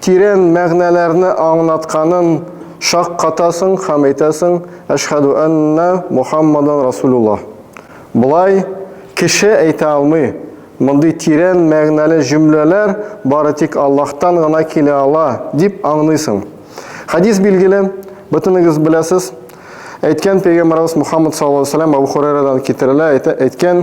Тирән мәгънәләрне аңлатканын шаккатасың һәм әйтәсең, Әшһәду әннә Мухаммадан Расулуллаһ. Болай кеше әйтә алмый. Мондый тирән мәгънәле җөмләләр бары тик Аллаһтан гына килә ала, дип аңлыйсың. Хәдис билгеле, бөтенегез беләсез. Әйткән пәйгамбәребез Мухаммад саллаллаһу галәйһи ва сәлләм Әбү Хурайрадан китерелә, әйтә, әйткән,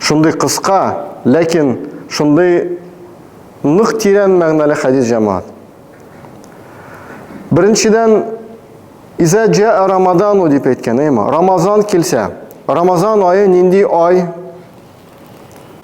Шундый кыска, ләкин шундый нык тирән мәгънәле хәдис җәмаат. Беренчедән, Иза джаа Рамадану дип әйткән, әйма. Рамазан килсә, Рамазан айы нинди ай?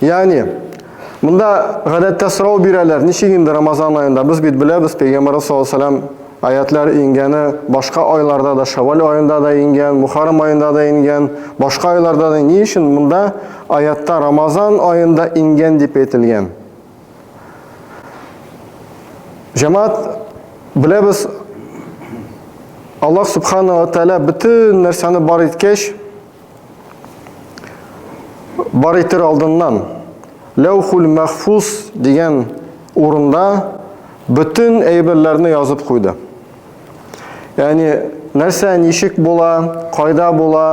Ягъни, монда гадәттә сорау бирәләр, ничек инде Рамазан аенда? Без бит беләбез, пәйгамбәрбез саллаллаһу алейһи ва сәлләм аятлар иңгәне башка айларда да, Шәввал аенда да иңгән, Мухаррам аенда да иңгән, башка айларда да. Ни өчен монда аятта Рамазан аенда иңгән дип әйтелгән? Җәмәгать беләбез, Аллаһ субхана ва тәгалә бөтен нәрсәне бар иткәч, Бар итер алдыннан Ләүхул Мәхфуз дигән урында бөтен әйберләрне язып куйды. Яни нәрсә ничек була, кайда була,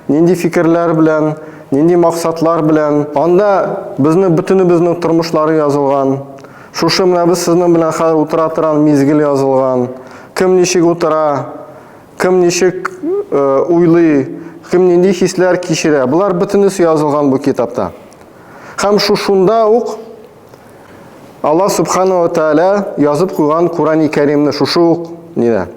нинди фикерләр белән, нинди максатлар белән. Анда безне бөтенебезнең тормышлары язылган. Шушы менә без сезнең белән хәзер утыра торган мизгел язылган. Кем ничек утыра, Кем ничек уйлый, кем нинди хисләр кичерә, болар бөтенесе язылган бу китапта. Һәм шушында ук Аллаһ Субхану ва Тааля язып куйган Курани Кәримне шушы ук нидә.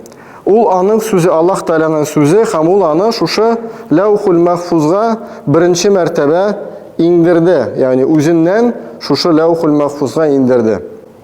Ул аның сүзе, Аллаһ Тааляның сүзе, һәм ул аны шушы Ләухул Мәхфузга беренче мәртәбә иңдерде, ягъни үзеннән шушы Ләухул Мәхфузга иңдерде.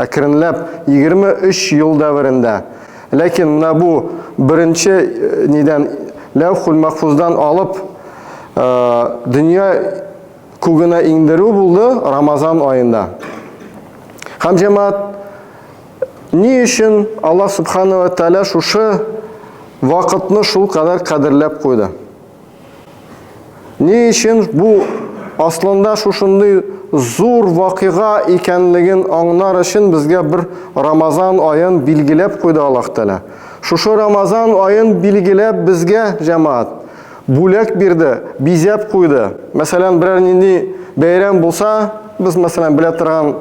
Әкренләп, 23 ел дәверендә. Ләкин менә бу беренче нидән, Ләүхүл-Мәхфуздан алып, дөнья күгенә иңдерү булды Рамазан аенда. Һәм, җәмәгать, ни өчен Аллаһ Сүбхәнәһү вә Тәгалә шушы вакытны шулкадәр кадерләп куйды? Ни өчен бу аслында шушындый зур вакыйга икәнлеген аңнар өчен безгә бер Рамазан аен билгеләп куйды Аллаһ Тәгалә. Шушы Рамазан аен билгеләп безгә, җәмәгать, бүләк бирде, бизәп куйды. Мәсәлән, берәр нинди бәйрәм булса, без, мәсәлән, белә торган,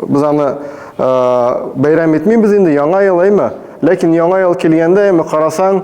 без аны бәйрәм итмибез инде, Яңа ел, әйме? Ләкин Яңа ел килгәндә, әйме, карасаң,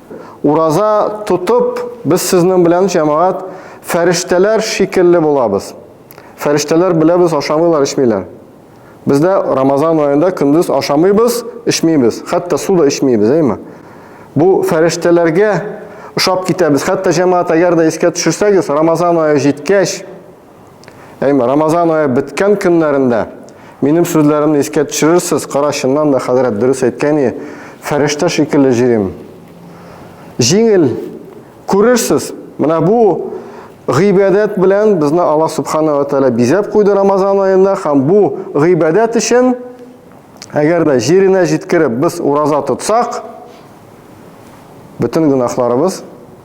Ураза тотып, без сезнең белән, җәмәгать, фәрештәләр шикелле булабыз. Фәрештәләр беләбез, ашамыйлар, эчмиләр. Без дә Рамазан аенда көндез ашамыйбыз, эчмибез, хәтта су да эчмибез, әйме? Бу фәрештәләргә ошап китәбез. Хәтта җәмәгать, әгәр дә искә төшерсәгез, Рамазан ае җиткәч, Әйме, Рамазан ае беткән көннәрендә минем сүзләремне искә төшерерсез, кара чыннан да хәзрәт дөрес әйткән и, фәрештә шикелле җирим. Җиңел, күрерсез, менә бу гыйбадәт белән безне Аллаһ Субхана ва Тәлә бизәп куйды Рамазан аенда, һәм бу гыйбадәт өчен, әгәр дә җиренә җиткереп без ураза тотсак, бөтен гөнаһларыбыз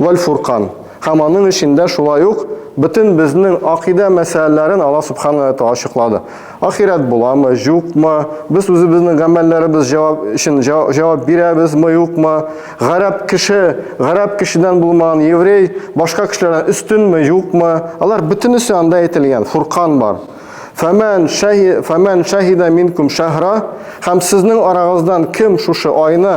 Вәл-Фуркан. Һәм аның эчендә шулай ук бөтен безнең акыйдә мәсьәләләрен Аллаһ Субхана вә Тәгалә ачыклады. Ахирәт буламы, җукмы, без үзебезнең гамәлләребез җавап өчен җавап бирәбезме, юкмы, гарәп кеше гарәп кешедән булмаган еврей башка кешеләрдән өстенме, юкмы, алар бөтенесе анда әйтелгән, Фуркан бар. Фәмән шәһи фәмән шәһидә минкум шәһра һәм сезнең арагыздан кем шушы айны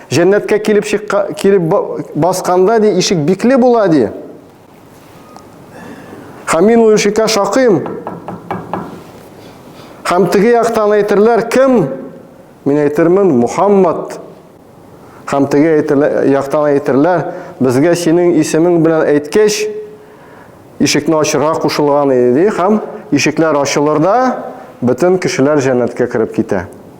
Җәннәткә килеп чыкка, килеп басканда ди, ишек бикле була ди. Һәм мин ул ишеккә шакыйм. Һәм теге яктан әйтерләр, кем? Мин әйтермен, Мухаммад. Һәм теге яктан әйтерләр, безгә синең исемең белән әйткәч, ишекне ачырга кушылган иде, һәм ишекләр ачылыр да, бөтен кешеләр җәннәткә кереп китә.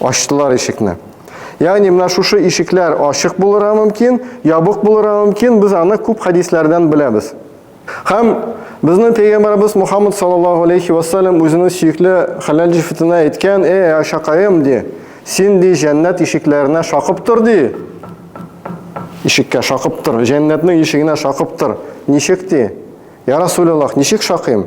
Ачтылар ишекне. Ягъни менә шушы ишекләр ачык булырга мөмкин, ябык булырга мөмкин, без аны күп хәдисләрдән беләбез. Һәм безнең пәйгамбәрбез Мухаммад саллаллаһу алейхи ва саллям үзенең сөекле хәләл җифетенә әйткән, "Эй, Ашакаем", ди, "Син ди җәннәт ишекләренә шакып тор", ди. Ишеккә шакып тор, җәннәтнең ишегенә шакып тор. Ничек ди? Я Расулиллах, ничек шакыйм?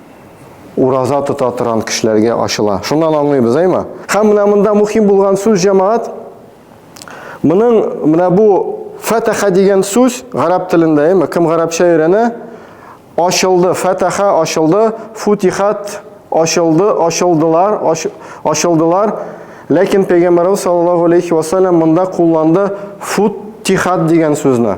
Ураза тота торган кешеләргә ачыла. Шуннан аңлыйбыз, әйме? Һәм менә монда мөһим булган сүз җәмәгать. Моның менә бу фатаха дигән сүз гарәп телендә, әйме? Кем гарәпчә өйрәнә? Ачылды, фатаха ачылды, футихат ачылды, ачылдылар, ачылдылар. Ләкин пәйгамбәрбез саллаллаһу алейхи ва саллям монда кулланды футихат дигән сүзне.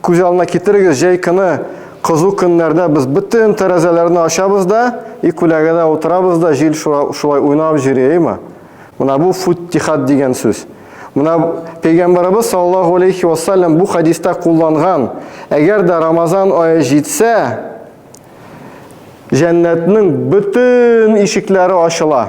Күз алдына китерегез, җәй көне кызу көннәрдә без бөтен тәрәзәләрне ачабыз да и күләгәдә утырабыз да җил шулай уйнап җөри, әйме? Менә бу футтихат дигән сүз. Менә пәйгамбәребез саллаллаху алейхи вассалам бу хадиста кулланган, әгәр дә Рамазан ае җитсә, җәннәтнең бөтен ишекләре ачыла.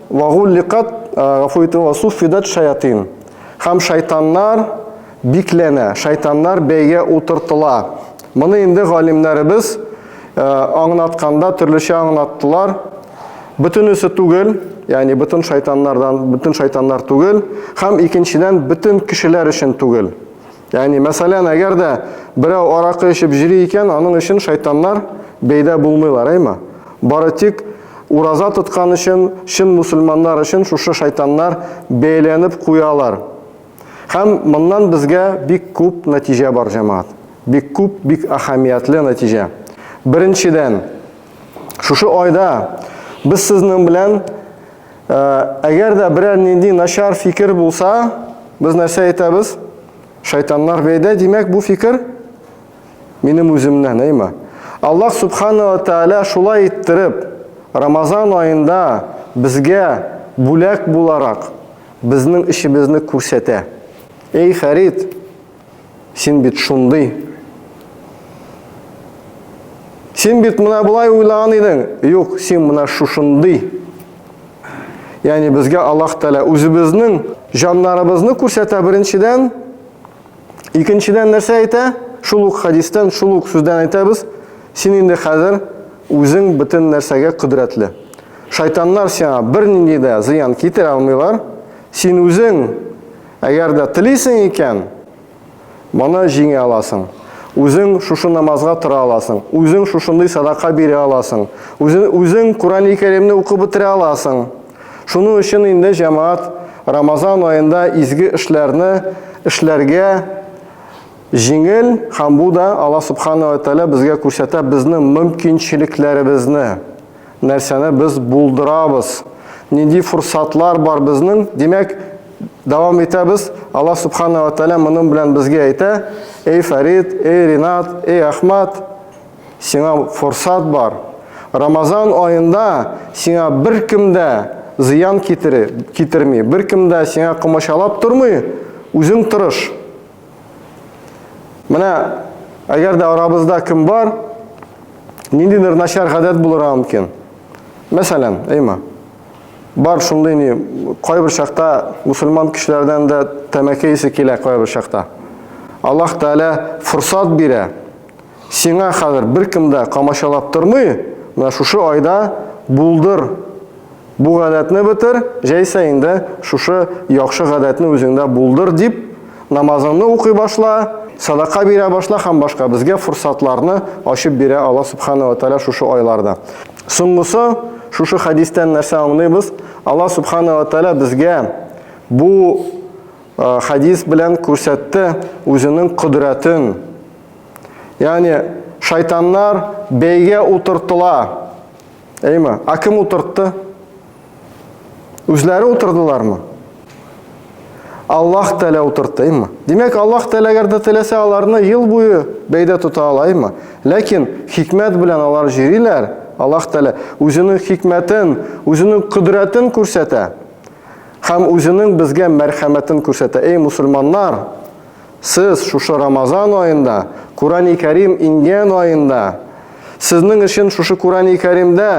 Вагулликат, гафу итү, васуффидат шаятин. Һәм шайтаннар бикләнә, шайтаннар бәйгә утыртыла. Моны инде галимнәребез аңнатканда төрлечә аңнаттылар. Бөтенесе түгел, ягъни бөтен шайтаннардан, бөтен шайтаннар түгел, һәм икенчедән бөтен кешеләр өчен түгел. Ягъни, мәсәлән, әгәр дә берәү аракы эчеп җөри икән, аның өчен шайтаннар бәйдә булмыйлар, әйме? Бары тик ураза тоткан өчен, чын мусульманнар өчен шушы шайтаннар бәяләнеп куялар. Һәм моннан безгә бик күп нәтиҗә бар, җәмәгать. Бик күп, бик әһәмиятле нәтиҗә. Беренчедән, шушы айда без сезнең белән Әгәр дә берәр нинди начар фикер булса, без нәрсә әйтәбез? Шайтаннар бәйдә, димәк, бу фикер минем үземнән, әйме? Аллаһ Субханала Тәала шулай иттереп, Рамазан айында безгә бүләк буларак безнең эшебезне күрсәтә. Эй, Фәрид, Син бит шундый. Син бит менә болай уйлаган идең. Юк, син менә шушындый. Яни безгә Аллаһ Тәгалә үзебезнең җаннарыбызны күрсәтә беренчедән, икенчедән нәрсә әйтә? Шул ук хадистан, шул ук сүздән әйтәбез. Син инде хәзер үзең бөтен нәрсәгә кодрәтле. Шайтаннар сиңа бернинди дә зыян китерә алмыйлар. Син үзең Әгәр дә телисең икән, моны җиңә аласың. Үзең шушы намазга тора аласың, үзең шушындый садака бирә аласың, үзең, үзең Курани Кәримне укып бетерә аласың. Шуның өчен инде җәмәгать Рамазан аенда изге эшләрне эшләргә җиңел һәм бу да Алла Субхана ва Тәгалә безгә күрсәтә безнең мөмкинчелекләребезне. нәрсәне без булдырабыз, нинди форсатлар бар безнең, димәк, дәвам итәбез. Алла Субхана ва Тәлә моның белән безгә әйтә, эй Фәрид, эй Ринат, эй Ахмад, сиңа форсат бар. Рамазан айында сиңа бер кем дә зыян китерми, бер кем дә сиңа комачалап тормый, үзең тырыш. Менә әгәр дә арабызда кем бар, ниндидер начар гадәт булырга мөмкин. Мәсәлән, әйма. Бар шундый ни, кайбер чакта мусульман кешеләрдән дә тәмәке исе килә кайбер чакта. Аллаһ Тәгалә форсат бирә. Сиңа хәзер беркем дә камачалап тормый, менә шушы айда булдыр бу гадәтне бетер, җәйсә инде шушы яхшы гадәтне үзеңдә булдыр дип, намазыңны укый башла, садака бирә башла һәм башка. Безгә форсатларны ачып бирә Аллаһ Субхана ва Тәгалә шушы айларда. Соңгысы, шушы хәдистән нәрсә аңлыйбыз? Аллаһ Субхана ва Тәгалә безгә бу хәдис белән күрсәтте үзенең кодрәтен, Ягъни шайтаннар бәйгә утыртыла. Әйме? А кем утыртты? Үзләре утырдылармы? Аллаһ Тәлә утыртты, әйме? Димәк, Аллаһ Тәлә әгәр дә теләсә, аларны ел буе бәйдә тота ала, әйме? Ләкин хикмәт белән алар җөриләр. Аллаһ Тәлә үзенең хикмәтен, үзенең кодрәтен күрсәтә һәм үзенең безгә мәрхәмәтен күрсәтә. Эй, мусульманнар, Сез шушы Рамазан аенда, Курани Кәрим иңгән аенда, сезнең өчен шушы Курани Кәримдә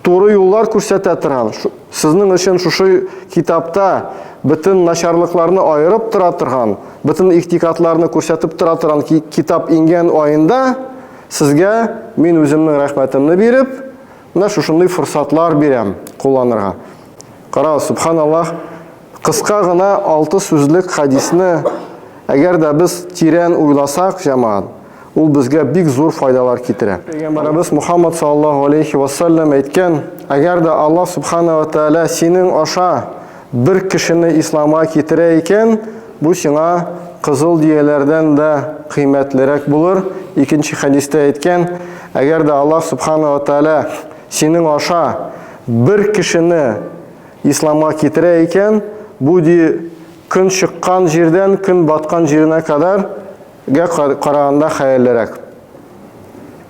туры юллар күрсәтә торган, сезнең өчен шушы китапта бөтен начарлыкларны аерып тора торган, бөтен ихтикатларны күрсәтеп тора торган китап иңгән аенда сезгә мин үземнең рәхмәтемне биреп, менә шушындый форсатлар бирәм кулланырга. Кара, субханаллах, Кыска гына алты сүзлек хәдисне әгәр дә без тирән уйласак, җәмәгать, ул безгә бик зур файдалар китерә. Пәйгамбәребез Мухаммад саллаллаһу алейхи ва саллям әйткән, Әгәр дә Аллаһ субхана ва тәгалә синең аша бер кешене исламга китерә икән, бу сиңа кызыл дөяләрдән дә кыйммәтлерәк булыр. Икенче хәдистә әйткән, Әгәр дә Аллаһ субхана ва тәгалә синең аша бер кешене Исламга китерә икән, бу ди көн чыккан җирдән көн баткан җиренә кадәр гә караганда хәерлерәк.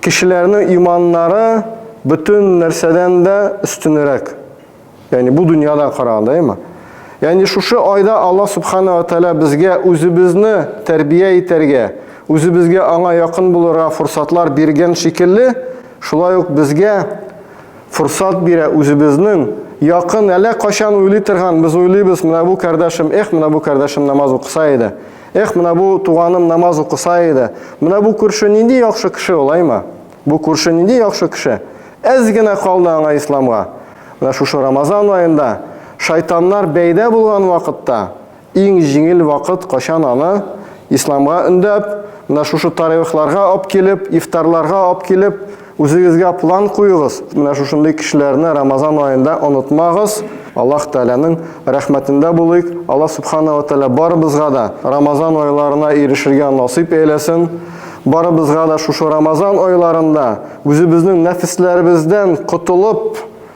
Кешеләрнең иманнары бөтен нәрсәдән дә өстенерәк. Ягъни бу дөньядан караганда, әйме? Ягъни шушы айда Аллаһ Субхана ва Тәгалә безгә үзебезне тәрбия итәргә, үзебезгә аңа якын булырга форсатлар биргән шикелле, шулай ук безгә форсат бирә үзебезнең якын әллә кайчан уйлый торган без уйлыйбыз менә бу кардәшем эх менә бу кардәшем намаз укыса иде эх менә бу туганым намаз укыса иде менә бу күрше нинди яхшы кеше олаймы бу күрше нинди яхшы кеше әз генә калды аңа исламга менә шушы рамазан аенда шайтаннар бәйдә булган вакытта Иң җиңел вакыт качан аны, исламга өндәп, менә шушы таревихларга ап килеп, ифтарларга ап килеп, үзегезгә план куегыз, менә шушындый кешеләрне Рамазан аенда онытмагыз. Аллаһ Тәгаләнең рәхмәтендә булыйк, Аллаһ Сүбхана ва Тәгалә барыбызга да Рамазан айларына ирешергә насыйп әйләсен, барыбызга да шушы Рамазан айларында үзебезнең нәфесләребездән котылып,